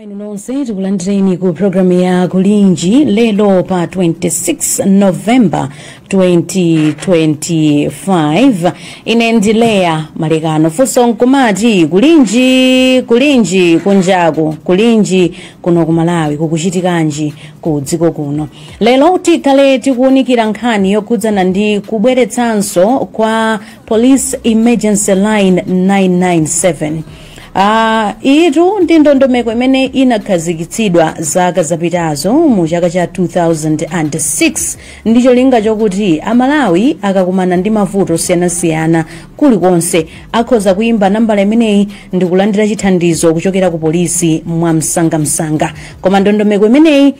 inu nonse tikulandireni ku programu ya kulinji lero pa 26 novemba 2025 ine ndi leah malekano funso nkumati kulinji kulinji kunjaku kulinji kuno ku malawi kukuchitikanji ku dziko kuno lero tikhale tikuwunikira nkhani yokhudzana ndi kubweretsanso kwa police emergency line 997 iyitu ndi ndondomeko imene inakhazikitsidwa zaka zapitazo mu chaka cha 2006 ndi cholinga chokuti amalawi akakumana ndi mavuto osiyanasiyana kulikonse akhoza kuyimba nambala imeneyi ndi kulandira chithandizo kuchokera ku polisi mwa msangamsanga koma ndondomeko imeneyi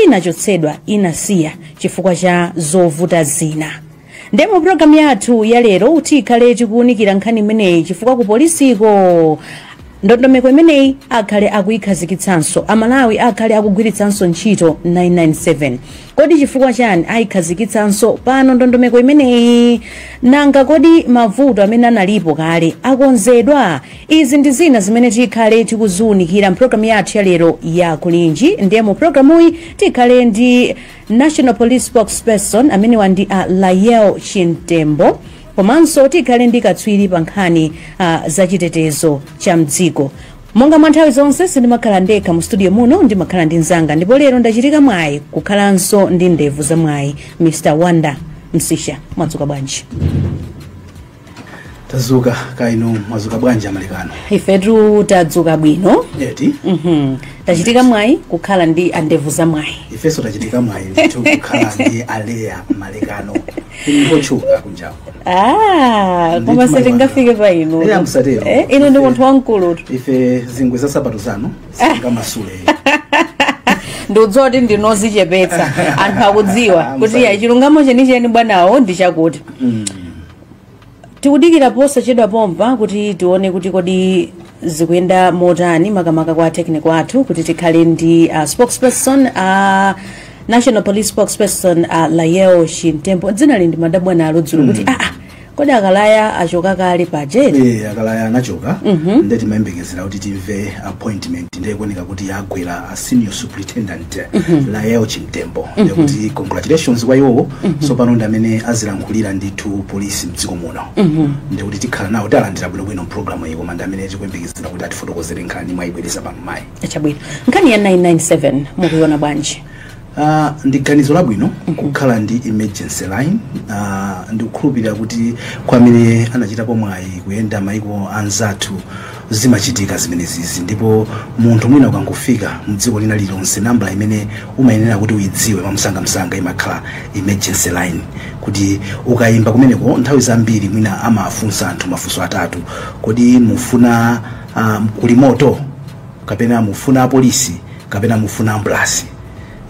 inachotsedwa inasiya chifukwa cha zovuta zina nde mu programu yathu ya lero tikhale tikuwunikira nkhani imeneyi chifukwa ku polisiko ndondomeko imeneyi akhale akuyikhazikitsanso amalawi akhale akugwiritsanso ntchito 997 kodi chifukwa chani ayikhazikitsanso pano ndondomeko imeneyi nanga kodi mavuto amene analipo kale akonzedwa Izi ndi zina zimene tikhale tikuziunikira mpulogalamu yathu ya lero ya kulinji ndiye mu pulogalamuyi tikhale ndi national police spokesperson amenewa ndi a lael chimtembo komanso tikhale ndi katswiri pa nkhani ah, za chitetezo cha mdziko monga mwa nthawi zonse sindimakhala ndekha mu studio muno ndimakhala ndi mzanga ndipo lero ndachitika mwayi kukhalanso ndi ndevu za mwayi mr wonder msiska mwadzuka bwanji tadzuka kaya inu mwadzuka bwanji amalekano ifetu tadzuka bwino eti Mhm. tachitika mwayi kukhala ndi andevu za mwayi ifeso tachitika mwayi ndithu kukhala ndi a leah malekano ngotchuka kunjawo Ah, Ndithu koma sitingafike pa inu Eya, musatero. Eh, inu ndi munthu wamkulutu ife zingwe za sapato zanu sitingamasule ndikudziwa kuti ndinu odzichepetsa anthu akudziwa kuti Musatero. ya chilungamo chenicheni bwanawo ndi chakuti tikudikira posachedwa pompa kuti tione kuti kodi zikuyenda motani makamaka kwa technical athu kuti tikhale ndi uh, spokesperson uh, national police spokesperson uh, lael chimtembo dzinali ndimadabwa nalo dzulo kuti mm. aa kodi a kalaya achoka kale paja eti Eh, a kalaya anachoka nde timayembekezera kuti timve appointment nde zikuoneka kuti yagwera a senior superintendent lael chimtembo ndekuti congratulations kwa iwowo tsopano ndi amene azilankhulira ndithu polisi mdziko muno ndekuti tikhala nawo tiwalandira bwinobwino mpulogalamu iyi koma ndi amene tikuyembekezera kuti atifotokozere nkhani mwayibwereza pano mayi chabwino nkhani ya 997 mukuiona bwanji Uh, ndi ganizo labwino kukhala ndi emergency line uh, ndikukhulupirira kuti kwa amene anachitapo mwayi kuyenda maiko anzathu zimachitika zimenezizi ndipo munthu mwina ukangofika mdziko lina lilonse nambala imene umayenera kuti uyidziwe mwamsangamsanga imakhala emergency line kuti ukayimba kumeneko nthawi zambiri mwina amafunsa anthu mafunso atatu kodi mufuna uh, kuli moto kapena mufuna apolisi kapena mufuna ambulasi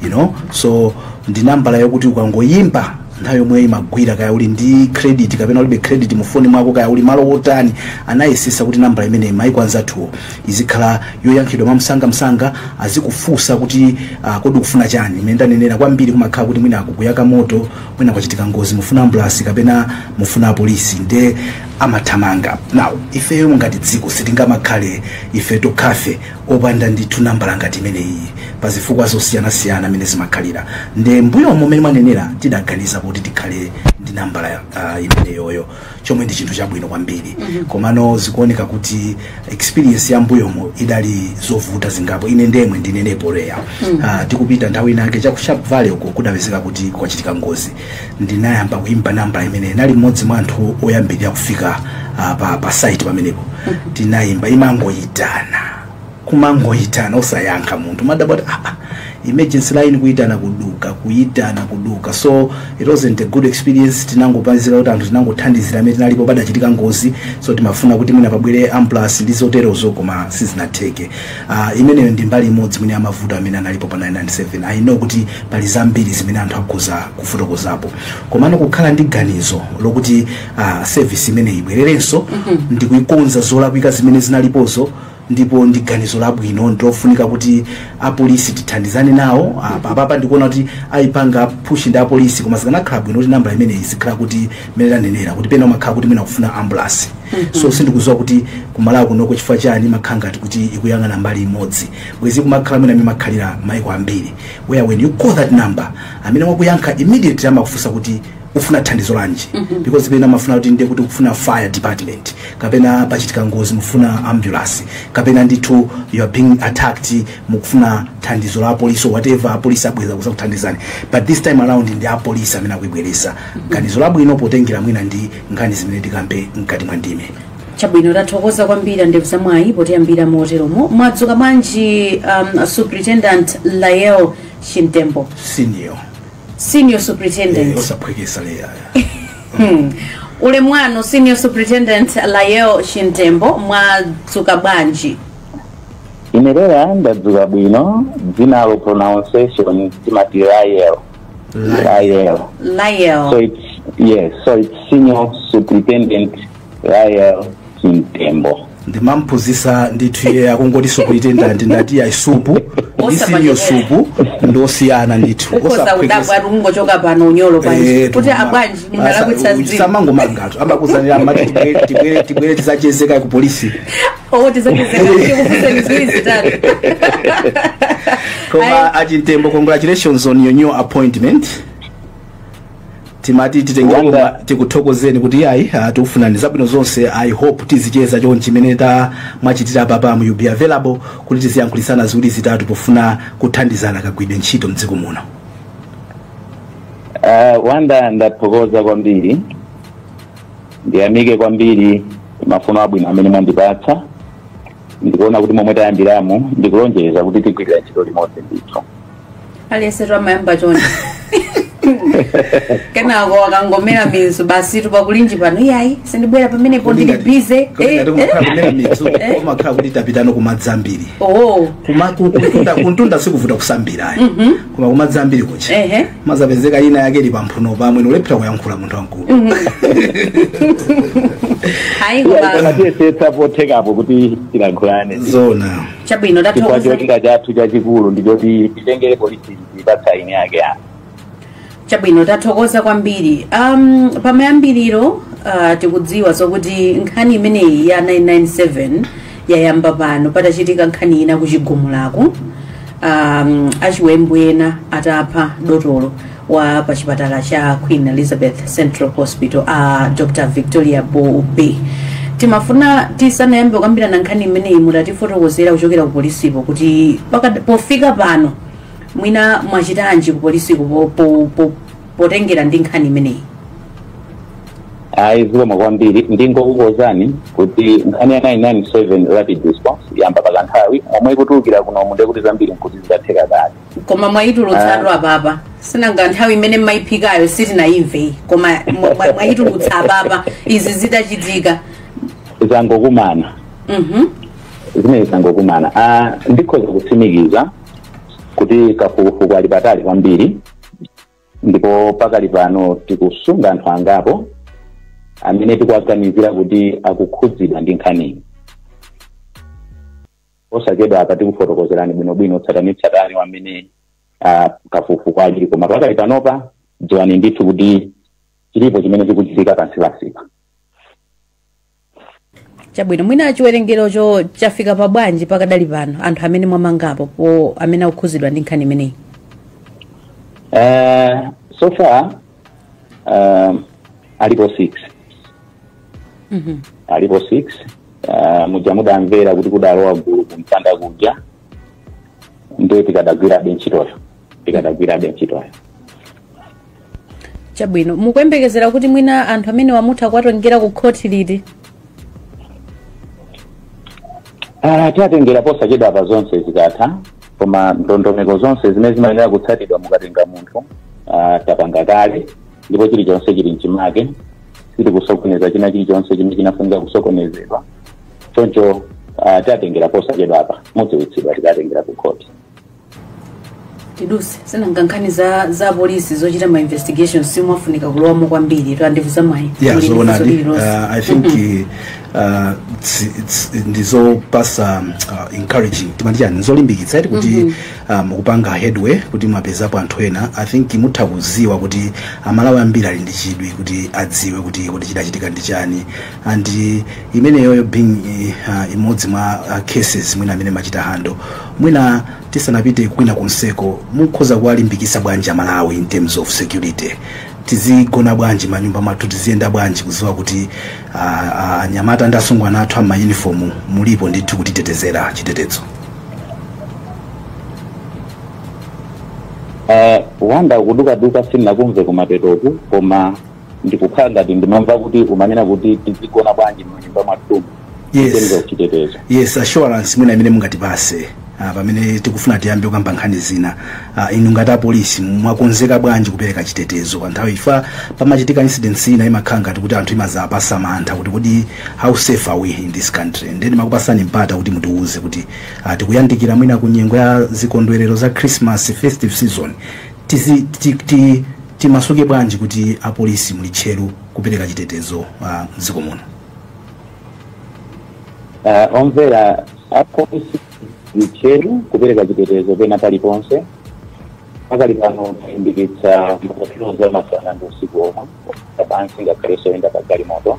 you know so ndi nambala yokuti ukangoyimba nthawi yomweyo imagwira kaya uli ndi credit kapena ulibe credit mu foni mwako kaya uli malo otani anayesesa kuti nambala imene maiko anzathuwo izikhala yoyankhidwa mwamsangamsanga azikufunsa kuti uh, kodi ukufuna chani mmene ndanenera kwambiri kumakhala kuti mwina kukuyaka moto mwina kwachitika ngozi mufuna ambulasi kapena mufuna apolisi nde amathamanga now ifeyo ngati dziko sitingamakhale ife tokhafe opanda ndithu nambala ngati imeneyi pa zifukwa zosiyanasiyana mmene zimakhalira nde mbuyomo mmene mwanenera tidaganiza kuti tikhale ndi nambala uh, imeneyoyo chomwe ndi chinthu chabwino kwambiri komano zikuoneka kuti experience ya mbuyomo idali zovuta zingapo ine ndemwe ndinene poyera Ah, tikupita nthawi inake cha ku sharp valley uko kudapezeka kuti kwachitika ngozi ndinayamba kuimba nambala imene nali mmodzi mwa anthu oyambirira kufika ah, pa, pa site pamenepo tinayimba imangoyitana kumangoyitana osayankha munthu kumadabwa kuti aa emergency line kuyitana kuduka kuyitana kuduka so it wasn't a good experience tinangopazira kuti anthu tinangothandizira amene tinalipo padachitika ngozi so timafuna kuti mwina pabwere ambulance ndi zoterozo koma sizinatheke uh, imeneyo ndi mbali imodzi mwina ya mavuto amene analipo pa 997 i know kuti pali zambiri zimene anthu akhoza kufotokozapo komano kukhala ndi ganizo lokuti uh, service imeneyi ibwererenso mm -hmm. ndikuikonza zolakwika zimene zinalipozo ndipo ndi ganizo labwino ndilofunika kuti apolisi tithandizane nawo apa apapa ndikuona kuti ayipanga push ndi apolisi koma zikanakhala bwino kuti nambala imeneyi izikhala kuti mmene ndanenera kuti pena umakhala kuti mwina kufuna ambulance so sindikuziwa kuti ku malawi kunoko chifukwa chani imakhala ngati kuti ikuyang'ana mbali imodzi bwezi ikumakhala mwina mmene imakhalira maiko ambiri where when you call that number amene wakuyankha immediately amakufunsa kuti ufuna thandizo lanji because pena umafuna kuti ndiye kuti ukufuna fire department kapena pachitika ngozi mufuna ambulance kapena ndithu you are being attacked mukufuna thandizo la apolisi or whatever apolisi abwera kuzakuthandizani but this time around ndi apolisi amene akuyibweresa ganizo labwino potengera mwina ndi nkhani zimene tikambe mkati mwa ndime chabwino tathokoza kwambiri a ndevu za mwayi potiyambira moteromo mwadzuka bwanji um, superintendent lael chimtembo senior senior superintendent osaphwekesa leya ulemu wanu senior superintendent Lael Chimtembo mwadzuka bwanji ine leya ndadzuka bwino dzinalo pronunciation timati lael lael so lael it's yes so it's senior superintendent Lael Chimtembo. ndimamphunzitsa ndithu iye akungoti superintendent ndati iyayi supu ndi siniyo supu ndi osiyana ndithu ukhoza kudabwa ati kungochoka pano unyolo panja kuti abwanji ndingalakwitsa zinthu samangomangatu amakuzanira amati tibwere- tibwere tibwere tizacheze kaye ku polisi owo tizacheze tikufunseni ziwiri zitatu koma a Chimtembo congratulations on your new appointment timati titengere tikuthokozeni kuti yayi ah, tikufunirani zabwino zonse i hope tizicheza chonchi chimene mwachitira apapa mu be available kuti tiziyankhulisana ziwiri zitatu pofuna kuthandizana kagwiridwe ntchito mdziko muno Ah, wanda ndathokoza kwambiri ndiyamike kwambiri mafuno abwino amene mwandipatsa ndikuona kuti momwe tayambiramo ndikulonjeza kuti tigwirira ntchito limodzi ndithu aliyense amayamba chonchi kenako akangomera mizu basi tukakulinji pano iyayi sindibwera pamenepo ndili bize Kodi ngati umakhala kumera mizu umakhala kuti tapitano kumadzi ambiri oo Kuma- ku- kuntunda- kuntunda sikuvuta kusambirayo koma kumadzi ambiri kucha ehe amazapezeka ina yake ili pamphuno pamwe n'kulephera kuyankhula munthu wamkulu ayi koma tiyesetsa pothekapo kuti tilankhulane zona chabwino tathokoza cholinga chathu chachikulu ndichoti titengere polisi kwa eni ake a chabwino tathokoza kwambiri um, pamayambiriro uh, tikudziwa zokuti nkhani imeneyi ya 997 yayamba pano patachitika nkhani ina kuchigumulaku um, achiwembu ena atapha dotolo wa pa chipatala cha queen elizabeth central hospital a dr victoria bobe timafuna tisanayambe kukambirana nkhani imeneyi mutatifotokozera kuchokera ku polisipo kuti pakad- pofika pano mwina mwachitanji ku polisiko po- po- po- potengera ndi nkhani imeneyi ayi zikomo kwambiri ndingokukonzani kuti nkhani ya 997 rapid response yayamba pa kanthawi momwe ikutulukira kunomu nde kuti zambiri nkuti zidatheka kale koma mwayitulutsatu apapa si nanga nthawi imene mmayiphikayo sitinayimveyi koma mwa- mwa- mwayitulutsa apapa izi zidachitika zangokumana Mhm. zimene zangokumana Ah, ndikhoza kutsimikiza kuti kafukufuku ali patali kwambiri ndipo pakali pano tikusunga anthu angapo amene tikuwaganizira kuti akukhudzidwa ndi nkhaniyi osachedwa apa tikufotokozerani bwinobwino tsatanitsatani wa mmene uh, kafukufuku alili koma pakali panopa dziwani ndithu kuti chilipo chimene chikuchitika pansipansipa chabwino mwina chiwerengerocho chafika pa bwanji pakadali pano anthu amene mwamangapopo amene akukhuzidwa ndi nkhani imeneyi Eh, so far eh, alipo six Mhm. alipo six eh, muja mudamvera kuti kudalowa gulu kumpanda kuja ndiye tikadagwirabe ntchitoyo tikadagwirabe ntchitoyo chabwino mukuyembekezera kuti mwina anthu amenewa mutha kuwatengera ku khoti liti Ah, tiatengera posachedwapa zonse zikatha koma ndondomeko zonse zimene zimayenera kutsatidwa mukatenga munthu ah, tapanga kale ndipo chilichonse chili mchimake sitikusokoneza china chilichonse chimene chinafunika kusokonezedwa choncho ah, tiatengera posachedwa apa mudziwitsidwa tikatengera ku khoti tiduse sinanga nkhani za za polisi zochita ma investigation sizimafunika kulowamo kwambiri to andivuza mwayi yeah Muli ndi funso zoonadi lililonse. uh, i think uh, tsi- tsi- ndizopasa um, uh, encouraging timati chani zolimbikitsa eti kuti mukupanga headway kuti mwapezapo anthu ena i think mutha kuziwa kuti amalawi ambiri ali ndi chidwi kuti adziwe kuti kodi chidachitika ndi chani and uh, imeneyoyo being uh, imodzi mwa uh, cases mwina imene mwachita handle mwina tisanapite kwina konseko mukhoza kuwalimbikisa bwanji amalawi in terms of security tizigona bwanji manyumba mathu tiziyenda bwanji kuziwa kuti uh, uh, anyamata ndi asungwana athu amayunifomu mulipo ndithu kutitetezera chitetezo Eh, wangodukaduka sinakumve kumapetoku koma ndikukhala ngati ndimamva kuti umanena kuti tizigona bwanji mnyumba mwathumu Yes. kutenga uchitetezo yes assurance mwina imene mungatipase ah, pamene tikufuna tiyambe kukamba nkhani zina ah, inu ngati apolisi mwakonzeka bwanji kupereka chitetezo pa nthawi if pamachitika incidents ina imakhala ngati kuti anthu imazapasa mantha kuti kodi how safe are we in this country nde nimakupasani mpata kuti mutiwuze kuti ah, tikuyandikira mwina ku nyengo ya zikondwerero za christmas festive season Tizi, ti, ti, timasuke bwanji kuti apolisi muli tcheru kupereka chitetezo uh, mdziko muno? Uh, omvera apolisi tili tcheru kupereka chitetezo pena paliponse pakali pano talimbikitsa mapatrol a masana ndi usiku omwe apansi ngakhalenso oyenda pa galimoto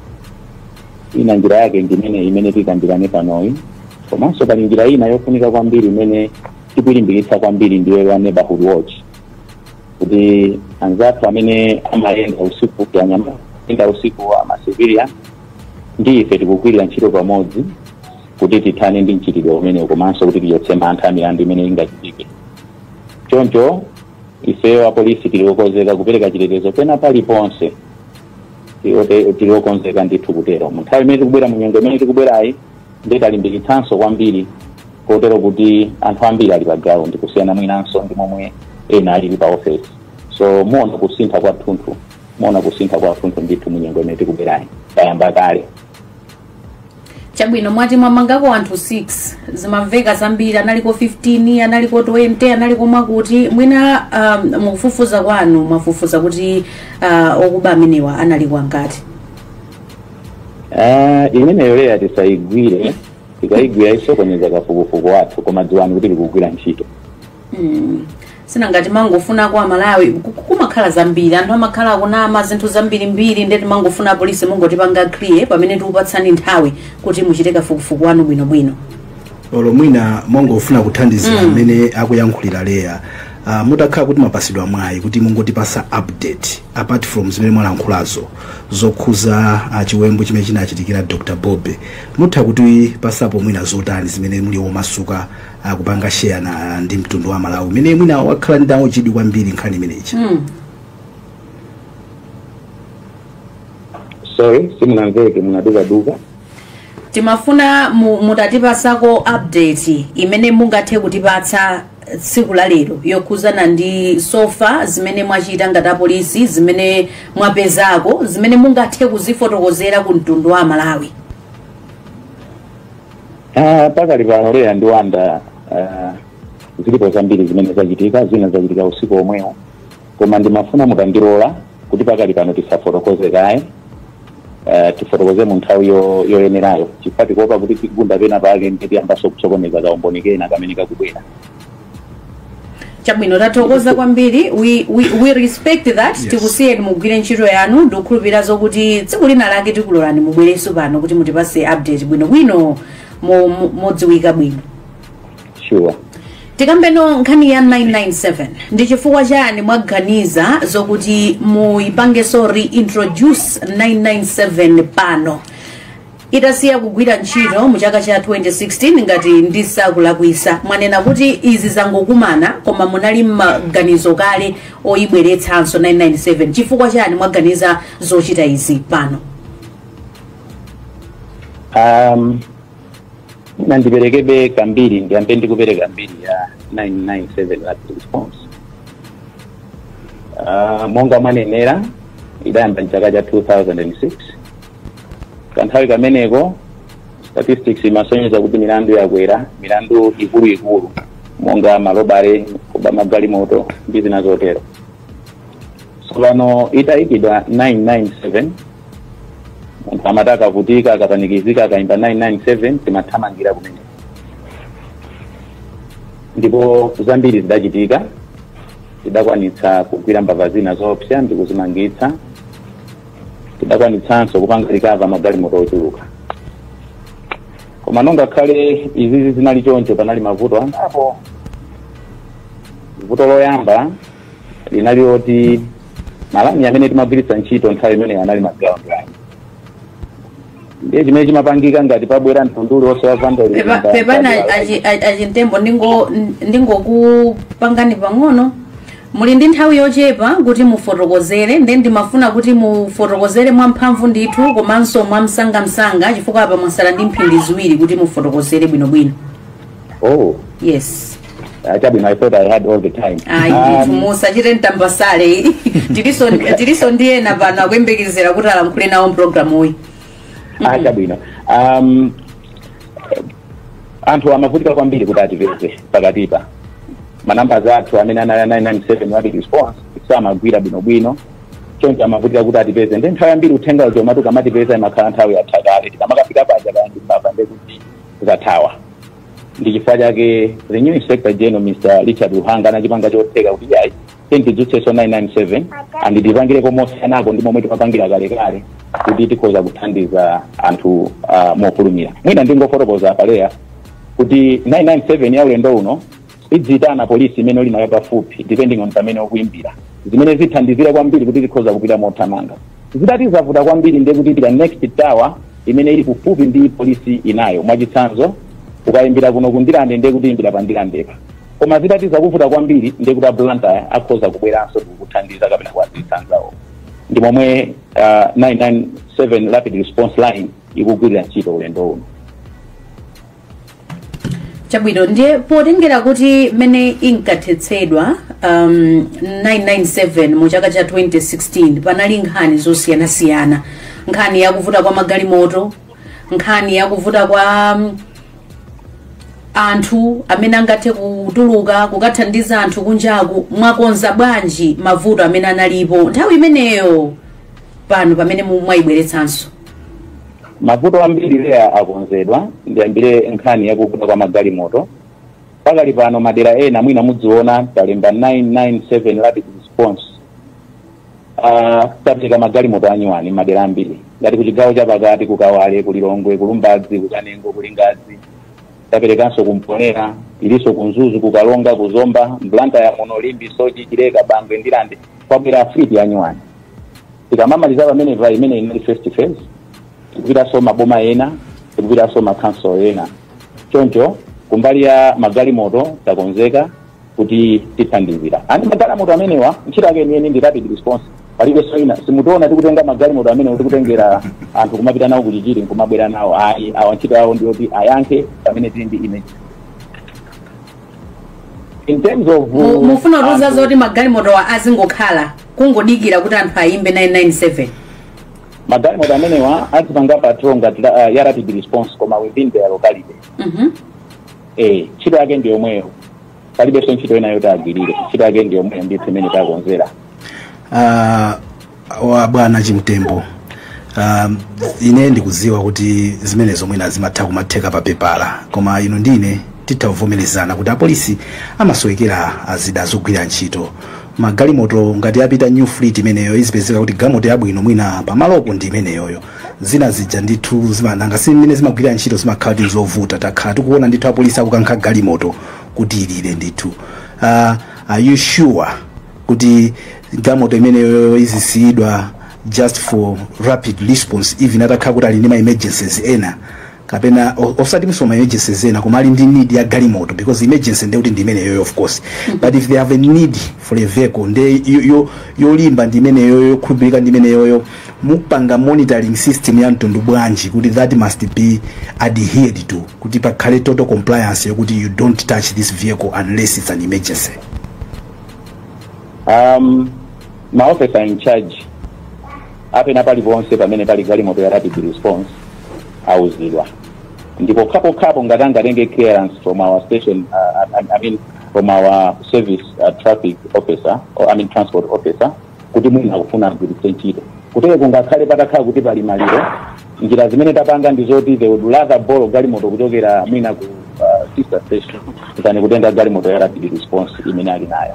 ina njira yake ndi imeneyi imene tikambirane panoyi komanso pali njira ina yofunika kwambiri imene tikuilimbikitsa kwambiri ndiye ya neighborhood watch kuti anzathu amene amayenda usiku amayenda usiku amasivilian ndi ife tikugwirira ntchito pamodzi kuti tithane ndi mchitidwe umenewu komanso kuti tichotse mantha milandu imene ingachitike choncho ifeyo apolisi tili okonzeka kupereka chitetezo pena paliponse tili okonzeka ndithu kutero mu nthawi imene tikubwera mu nyengo imene tikubwerayi ndiye talimbikitsanso kwambiri kotero kuti anthu ambiri ali pa ground kusiyana mwinanso ndi momwe ena alili pa office so muona kusintha kwathunthu muona kusintha kwathunthu ndithu munyengo imene tikubwerayi tayamba kale chabwino mwati mwamangako anthu 6 zimamveka zambiri analiko 15 analiko 20 analiko mwakuti mwina um, mu kufufuza kwanu mwafufuza kuti uh, okuba amenewa analiko angati Ah, imeneyo area tisayigwire tikayigwira isokoneza kafukufuku wathu koma dziwani kuti tikugwira ntchito Mm. si nanga timangofuna kwa amalawi ku- ku- kumakhala zambiri anthu amakhala akunama zinthu zambirimbiri nde timangofuna apolisi mungotipanga clear pamene tikupatsani nthawi kuti muchite kafukufuku wanu bwinobwino olo mwina mongofuna kuthandizira amene akuyankhulira leya uh, mutakhala kuti mwapasidwa mwayi kuti mungotipasa update apart from zimene mwalankhulazo zokhuza ah, chiwembu chimene chinachitikira dr bob mutha kutipasapo mwina zotani zimene muli omasuka ah, kupanga share ndi mtundu wa malawi umene mwina wakhala nawo chidwi kwambiri nkhani imeneyi Mm. sorry simunamveke, munadukaduka timafuna mu- mutatipasako update imene mungathe kutipatsa tsiku la lero yokhuzana ndi so far zimene mwachita ngati apolisi zimene mwapezako zimene mungathe kuzifotokozera ku mtundu wa amalawi Ah, pakali pano leya ndi wanda ah, zilipo zambiri zimene zachitika zina zachitika usiku omwewo koma ndimafuna mutandilola kuti pakali pano tisafotokoze kaye eh, tifotokoze mu nthawi yo- yoyenerayo chifukwa tikuopa kuti tigunda pena pake nde tiyambanso kusokoneza kaumboni kena kamene kakubwera chabwino tathokoza kwambiri we, we, we respect that Yes. tikusiyeni mugwire ntchito yanu ndikukhulupirira zokuti tsiku lina lake tikulolani mubwerenso pano kuti mutipase update bwinobwino mo- mo- modziwika bwino sure tikambeno nkhani ya 997 ndi chifukwa chani mwaganiza zokuti muyipangeso reintroduce 997 pano itasiya kugwira ntchito mu chaka cha 2016 ngati ndisakulakwisa mwanena kuti izi zangokumana koma munali mmaganizo kale oyibweretsanso 997 chifukwa chani mwaganiza zochita izi pano um, nane ndiperekebe kambiri ndiyambe ndikupereka mbiri ya 997 rapid response Ah, monga mwanenera idayamba mchaka cha 2006 kanthawi kameneko statistics imasonyeza kuti milandu yakwera milandu ikuluikulu monga ma robbery kuba magalimoto ndi zina zotero tsopano itayikidwa 997 munthu amati akavutika akapanikizika akaimba 997 timathamangira kumene ndipo zambiri zidachitika tidakwanitsa kugwira mbava zina zoopsa ndi kuzimangitsa tidakwanitsanso kupanga recover magalimoto ochuluka koma ngakhale izizi zinali choncho panali mavuto angapo vuto loyamba linali loti ma line amene timagwiritsa ntchito nthawi imeneyo anali ma ground line ndiye chimene chimapangika ngati pabwera mtundu uliwonse wa vandalism Pepa- pa- pepani pa- achi- achi- a Chimtembo ndingo- ndingokupangani pang'ono muli ndi nthawi yochepa kuti mufotokozere nde ndimafuna kuti mufotokozere mwamphamvu ndithu komanso mwamsangamsanga chifukwa apa mwasala ndi mphindi ziwiri kuti mufotokozere bwinobwino oh yes I thought I thought I had all the time. ayi ndithu Um, musachite mtambasale ayi tilinso tilinso ndi ena pano akuyembekezera kuti alankhule nawo mpulogalamuyi ah chabwino um, anthu amavutika kwambiri kuti atipeze pakati apa manambers athu amene anali a 997 rapid response samagwira bwinobwino choncho amavutika kuti atipeze nde nthawi yambiri uthenga uja umati ukamatipeza imakhala nthawi yatha kale tikamakafika paja kaya ndimbava ndekuti zathawa ndi chifukwa chake the new inspector general mr Richard Luhanga anachipanga chotheka kuti iyayi tidzutsenso 997 and tipangireko mosiyanako ndi momwe timapangira kalekale kuti tikhoza kuthandiza anthu uh, mofulumira mwina ndingofotokoza pa air kuti 997 ya ulendo uno idziyitana polisi imene uli nayo pafupi depending on pamene ukuimbira zimene zithandizira kwambiri kuti tikhoza kupita mothamanga zitati zavuta kwambiri ndiye kuti ipita next tower imene ili kufupi ndi polisi inayo mwachitsanzo ukayimbira kuno ku Ndirande ndiye kuti uyimbira pa Ndirandepa koma zitati zakuvuta kwambiri ndiye kuti a Blantyre akhoza kubweranso kukuthandiza kapena kuwadziwitsa anzawo ndi momwe uh, 997 rapid response line ikugwirira ntchito ulendo uno chabwino ndiye potengera kuti mmene inkathetsedwa um, 997 mu chaka cha 2016 panali nkhani zosiyanasiyana nkhani yakuvuta kwa magalimoto nkhani yakuvuta kwa um, anthu amene angathe kutuluka kukathandiza anthu kunjaku mwakonza bwanji mavuto amene analipo nthawi imeneyo pano pamene mu- mwayibweretsanso mavuto ambiri leya akonzedwa ndiyambire nkhani yakuvuta kwa magalimoto pakali pano madera ena mwina muziona talemba 997 rapid response Ah, tapereka magalimoto anyuwani madera ambiri ngati kuchigawo chapakati kukawale kulilongwe kulumbadzi kukanengo kulingadzi taperekanso kumponera ilinso kunzuzu kukaronga kuzomba mblantyre muno limbe soche chileka bangwe ndirande kwabwera a fleet yanyuwani tikamamaliza pamene pa imene inali first phase tikupitanso maboma ena tikupitanso makhansolo ena choncho kumbali ya magalimoto takonzeka kuti tithandizira andi magalimoto amenewa ntchito yake yeniyeni ndi rapid response palibenso ina simutiona tikutenga magalimoto amenewa tikutengera anthu kumapita nawo kuchichiri nkumabwera nawo ayi awa ntchito yawo ndiyoti ayankhe pamene tili ndi emergency in terms of Mu- mufuna kuuza anthu- zoti magalimotowa azingokhala kungodikira kuti anthu ayimbe 997 magalimoto amenewa azipanga patrol ngati la- ya rapid response koma within their locality Mhm. eh ntchito yake ndi yomweyo palibenso ntchito ina yoti agwirire ntchito yake ndi yomweyo ndithu imene takonzera Ah, a bwana chimtembo um, ine ndikuziwa kuti zimenezo mwina zimatha kumatheka pa pepala koma inu ndi ine titha kuvomerezana kuti apolisi amasowekera zida zogwirira ntchito magalimoto ngati apita new fleet imeneyo izipezeka kuti galimoto yabwino mwina pamalopo ndi imeneyoyo zina zija ndithu zima- nanga si mmene zimagwirira ntchito zimakhala kuti nzovuta takhala tikuona ndithu apolisi akukankha galimoto kuti ilire ndithu uh, are you sure kuti galimoto imeneyo izisiyidwa just for rapid response even atakhala kuti ali ndi ma emergencies ena kapena o- osatinso ma emergencies ena koma ali ndi need ya galimoto because emergency nde kuti ndi imeneyoyo of course but if they have a need for a vehicle nde yo- yo- yolimba ndi imeneyoyo yokhulupirika ndi imeneyoyo mupanga monitoring system ya mtundu bwanji kuti that must be adhered to kuti pakhale total compliance yokuti you don't touch this vehicle unless it's an emergency um, ma officer in charge a pena paliponse pamene pali galimoto ya rapid response auzidwa ndipo pokhapokhapo ngati angatenge clearance from our station uh, I, I mean from our service uh, traffic officer or I mean transport officer kuti mwina akufuna agwiritse ntchito kutero kungakhale patakhala kuti pali maliro njira zimene tapanga ndi zoti they would rather borrow galimoto kuchokera mwina ku uh, sister station than kutenga galimoto ya rapid response imene ali nayo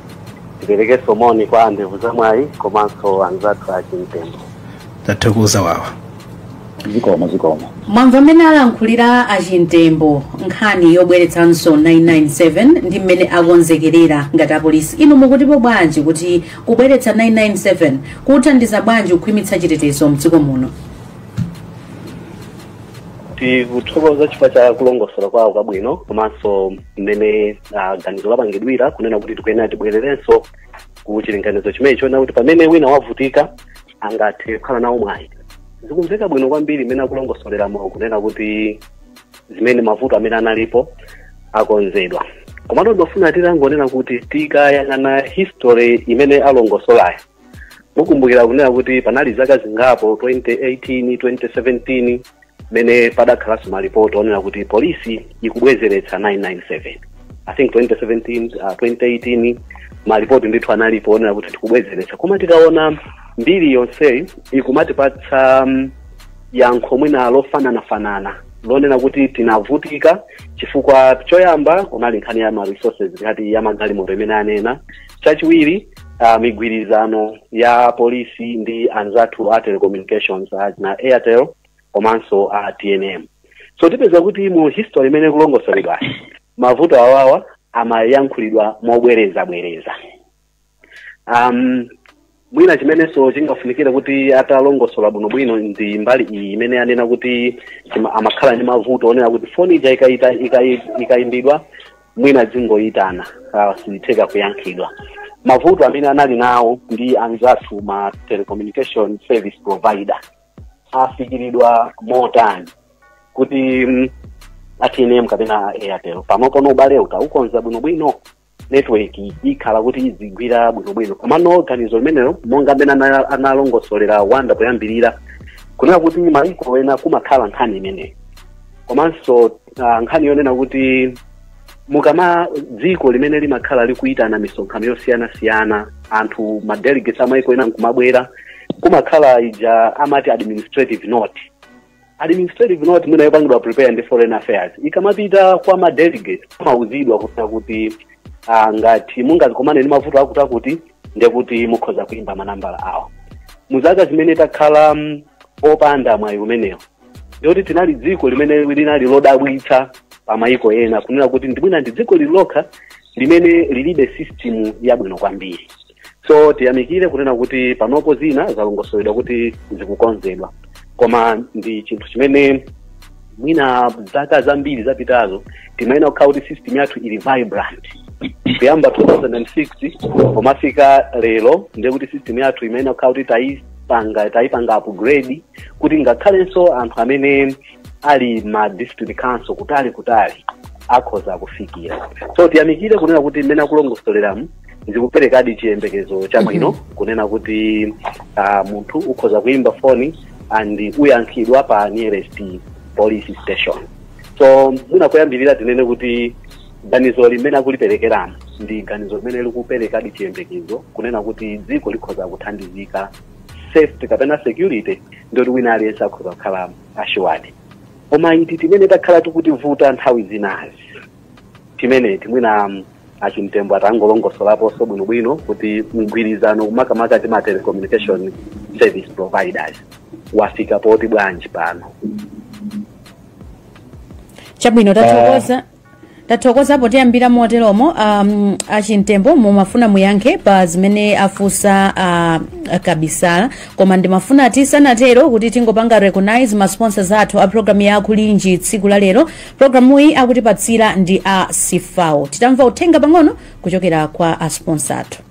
tiperekenso moni kwa andevu za mwayi komanso anzathu a chimtembo tathokoza wawa zikomo zikomo mwamva mmene alankhulira achimtembo nkhani yobweretsanso 997 ndi mmene akonzekerera ngati apolisi inu mukutipo bwanji kuti kubweretsa 997 kuthandiza bwanji kukhwimitsa chitetezo mdziko muno tikuthokoza chifukwa cha kulongosola kwawo kwabwino komanso mmene ah, ganizo lapangidwira kunena kuti tikuyenera tibwererenso ku chilinganizo chimenecho na kuti pamene wina wavutika angathe kukhala nawo mwayi zikumveka bwino kwambiri mmene akulongosoleramo kunena kuti zimene mavuto amene analipo akonzedwa komatu ndifuna titangonena kuti tikayang'ana history imene alongosolayo mukumbukira kunena kuti panali zaka zingapo 2018 2017 mene padakhalanso malipoti onena kuti polisi ikubwezeretsa 997 i think 2017 uh, 2018 malipoti ndithu analipo onena kuti tikubwezeretsa koma tikaona mbiri yonseyi ikumatipatsa um, yankho mwina lofananafanana lonena kuti tinavutika chifukwa choyamba kunali nkhani ya ma resources ngati ya magalimoto imene anena chachiwiri uh, migwirizano ya polisi ndi anzathu a telecommunications achina airtel komanso a tnm so tipeza kuti mu history imene ikulongosoledwayi mavuto awawa amayankhulidwa mobwereza bwereza um, mwina chimenenso chingafunikire kuti atalongosola bwinobwino ndi mbali iyi imene anena kuti chima- amakhala ndi mavuto onena kuti foni ija ikaita- ikai- ikaimbidwa mwina izingoyitana ah, osatheka kuyankhidwa mavuto amene anali nawo ndi anzathu ma telecommunication service provider afikiridwa motani kuti mm, atnm kapena airtel panopo no ubale utaukonza bwinobwino network ikhala kuti izigwira bwinobwino komano ganizo limenelo monga mmene ana- analongosolera wanda poyambirira kunena kuti mayiko ena kumakhala nkhani imeneyi komanso ah, nkhani yonena kuti mukama dziko limene limakhala likuyitana misonkhano yosiyanasiyana anthu madelegates amayiko ena nkumabwera kumakhala ija amati administrative note administrative note mwina yopangidwa prepare ndi foreign affairs ikamapita kwa ma delegate amauzidwa kunena kuti ah, ngati mungazikomane ndi mavuto akuti akuti ndiye kuti mukhoza kuimba manambala awo mu zaka zimene takhala mm, opanda mwayi umenewo ndiyoti tinali dziko limene linali lodabwitsa pa mayiko ena kunena kuti ndi mwina ndi dziko lili lokha limene lilibe system yabwino kwambiri so tiyamikire kunena kuti panopo zina zalongosoledwa kuti zikukonzedwa koma ndi chinthu chimene mwina zaka zambiri zapitazo timayenera kukhala kuti system yathu ili vibrant kuyamba 2006 pomafika lero ndiye kuti system yathu imayenera kukhala kuti tayipanga upgrade kuti ngakhalenso anthu amene ali ma district council kutali kutali akhoza kufikira so tiyamikire kunena kuti mmene akulongosoleramu zikuperekadi chiyembekezo chabwino kunena kuti uh, munthu ukhoza kuimba foni and uyankhidwa pa nearest police station so mwina kuyambirira tinene kuti ganizo limene akuliperekeramo ndi ganizo limene likuperekadi chiyembekezo kunena kuti dziko likhoza kuthandizika safety kapena security ndoti wina aliyense akhoza kukhalamo assured koma iti timene takhala tikutivuta nthawi zinazi timeneti. Mwina mm, a Chimtembo atangolongosolaponso bwinobwino kuti mgwirizano makamaka ndi ma telecommunication service providers wafika pati bwanji pano chabwino tathokoza tathokoza potiyambira moteromo um, a Chimtembo mumafuna muyankhe pa zimene afunsa a Kabisala koma ndimafuna tisanatero kuti tingopanga recognize ma sponsors athu a programu ya kulinji tsiku la lero programuyi akutipatsira ndi a CFAO titamva uthenga pang'ono kuchokera kwa a sponsor athu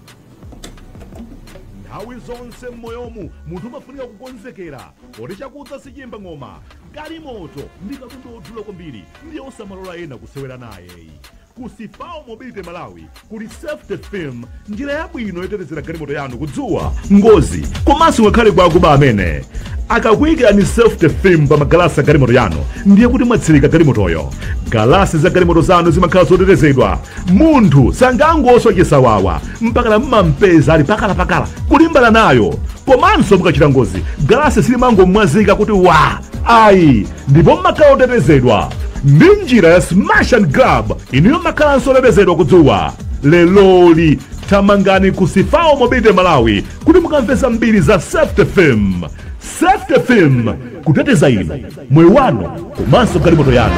nthawi zonse m'moyomu munthu umafunika kukonzekera Poti chakudza sichiyimba ng'oma. Galimoto ndi katundu odula kwambiri ndiye osamalola ena kusewera naye. Ku CFAO Mobility Malawi kuli Safety Film, njira yabwino yotetezera galimoto yanu ku dzuwa, ngozi komanso ngakhale kwa akuba amene. Akakuyikirani Safety Film pa magalasi a galimoto yanu ndiye kuti mwatsirika galimotoyo. Galasi za galimoto zanu zimakhala zotetezedwa Munthu sangangoswa chisawawa mpakana mumampeza ali pakalapakala kulimbana nayo. Komanso mukachita ngozi, galasi silimangomwazika kuti wa ayi, ndipo mmakhala otetezedwa ndi njira ya smash and grab. Inuyo mmakhalanso otetezedwa ku dzuwa. Leroli thamangani ku CFAO Mobility Malawi kuti mukamve zambiri za Safety Film. Safety Film, kuteteza inu, moyo wanu komanso galimoto yanu.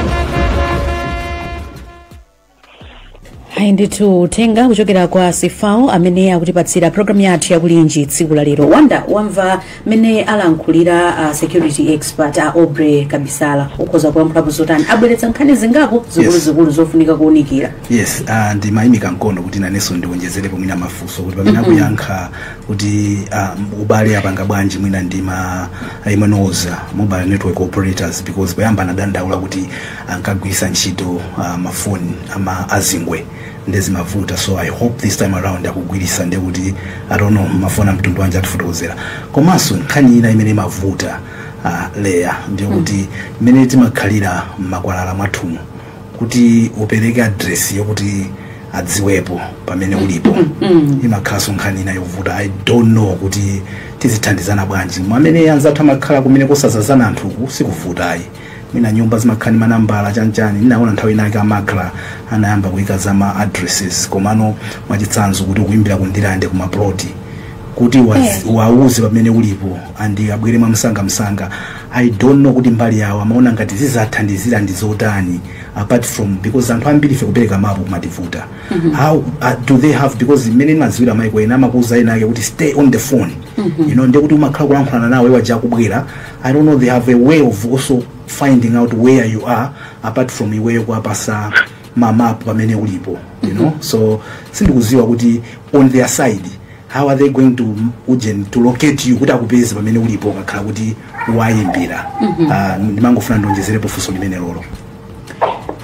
ayi ndithu uthenga kuchokera kwa CFAO amene akutipatsira programu yathu ya Kulinji tsiku la lero Wonder wamva mmene alankhulira a security expert a aubrey kabisala ukhoza kulankhulapo zotani abweretsa nkhani zingapo zikuluzikulu zofunika kuunikira yes uh, ndimayimika mkono kuti nanenso ndiwonjezerepo mwina mafunso kuti pamene akuyankha kuti uh, ubale apanga bwanji mwina ndi ma MNOs a mobile network operators because poyamba anadandaula kuti ankagwiritsa ntchito uh, mafoni ama a zingwe nde zimavuta so i hope this time around akugwiritsa nde kuti i don't know mafoni amtundu wanji atifotokozera komanso nkhani ina imene imavuta uh, leya ndiyo kuti imene timakhalira mmakwalala mwathumu kuti upereke adresi yokuti adziwepo pamene ulipo imakhalanso nkhani ina yovuta i don't know kuti tizithandizana bwanji mwamene anzathu amakhala kumene kusadzadzana anthuku sikuvutayi mwina nyumba zimakhala ndi manambala chanchani ndinaona nthawi inake amakhala anayamba kuyika za ma addresses komano mwachitsanzo kuti ukuyimbira ku Ndirande ku maploti kuti wazi- wawuze pamene ulipo andi abwere mwamsangamsanga i don't know kuti mbali yawo amaona ngati zizathandizira ndi zotani apart from because anthu ambiri ife kupereka mapu kumativuta how uh, do they have because mmene ndimadziwira maiko ena amakuuza ena ake kuti stay on the phone you know ndekuti umakhala kulankhulana nawe waja kubwera I don't know they have a way of also finding out where you are apart from iweyo kuwapasa mapu pamene ulipo you know so sindikuziwa kuti on their side how are they going to ujeni to locate you kuti akupeze pamene ulipo ukakhala kuti wayimbira Ah, ndimangofuna ndionjezerepo funso limenelolo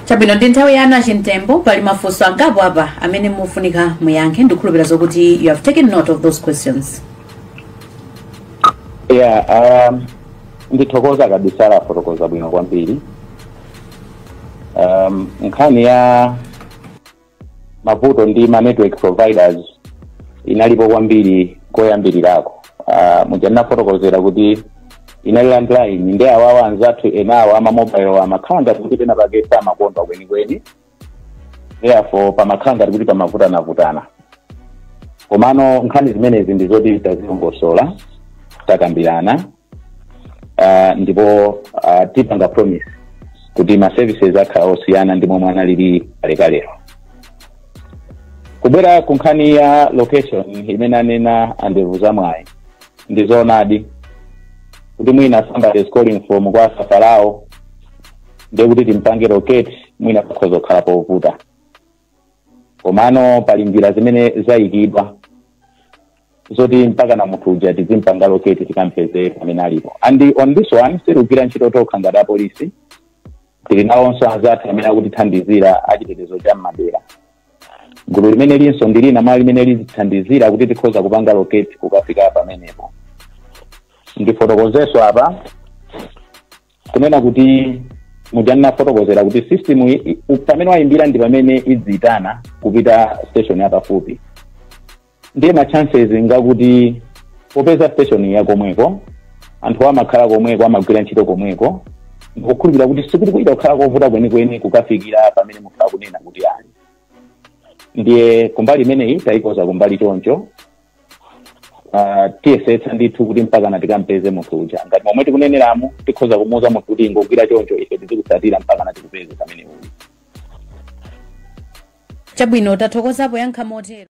chabwino ndi nthawi yanu a Chimtembo pali mafunso angapo apa amene mufunika muyankhe ndikhulupira zokuti you have taken note of those questions Yeah, um, ndithokoza Kabisala afotokoza bwino kwambiri um, nkhani ya mavuto ndi ma network providers inalipo kwambiri koyambirirako uh, muja ndinafotokozera kuti inali landline ndi awawa anzathu enawo ama mobile amakhala ngati kuti pena pake samakondwa kwenikweni therefore pamakhala ngati kuti pamavutanavutana komano nkhani zimenezi ndi zoti tazilongosola takambirana uh, ndipo uh, tipanga promise kuti ma services akhala osiyana ndi momwe analili kalekalero kubwera ku nkhani ya location imene anena a Ndevuzamwayi ndi zoonadi kuti mwina somebody is calling from kwa Safalao ndiye kuti timpange locate mwina pakhoza kukhala povuta komano pali njira zimene zayikidwa zoti mpakana munthu uja tizimpanga locate tikampeze pamene alipo and on this one sitigwira ntchito tokha ngati apolisi tili nawonso anzathu amene akutithandizira achitetezo cha mmadera gulu limeneli nso ndi lina mwa limene lizithandizira kuti tikhoza kupanga locate kukafika pamenepo ndifotokozeso apa kunena kuti muja ndinafotokozera kuti system pamene wayimbira ndi pamene izitana kupita station yapafupi ndiye ma chances ngakuti popeza station ya komweko anthu amakhala komweko amagwira ntchito komweko ndikukhulupirira kuti sikuti kuchita kukhala kovuta kwenikweni kukafikira pamene munthu akunena kuti ali ndiye kumbali imeneyi tayikonza kumbali choncho Ah, tiyesetsa ndithu kuti mpakana tikampeze munthu uja ngati momwe tikuneneramu tikhoza kumuuza munthu kuti ingogwira choncho ife tizikutsatira mpakana tikupeze pamene uli chabwino tathokozapo yankha motero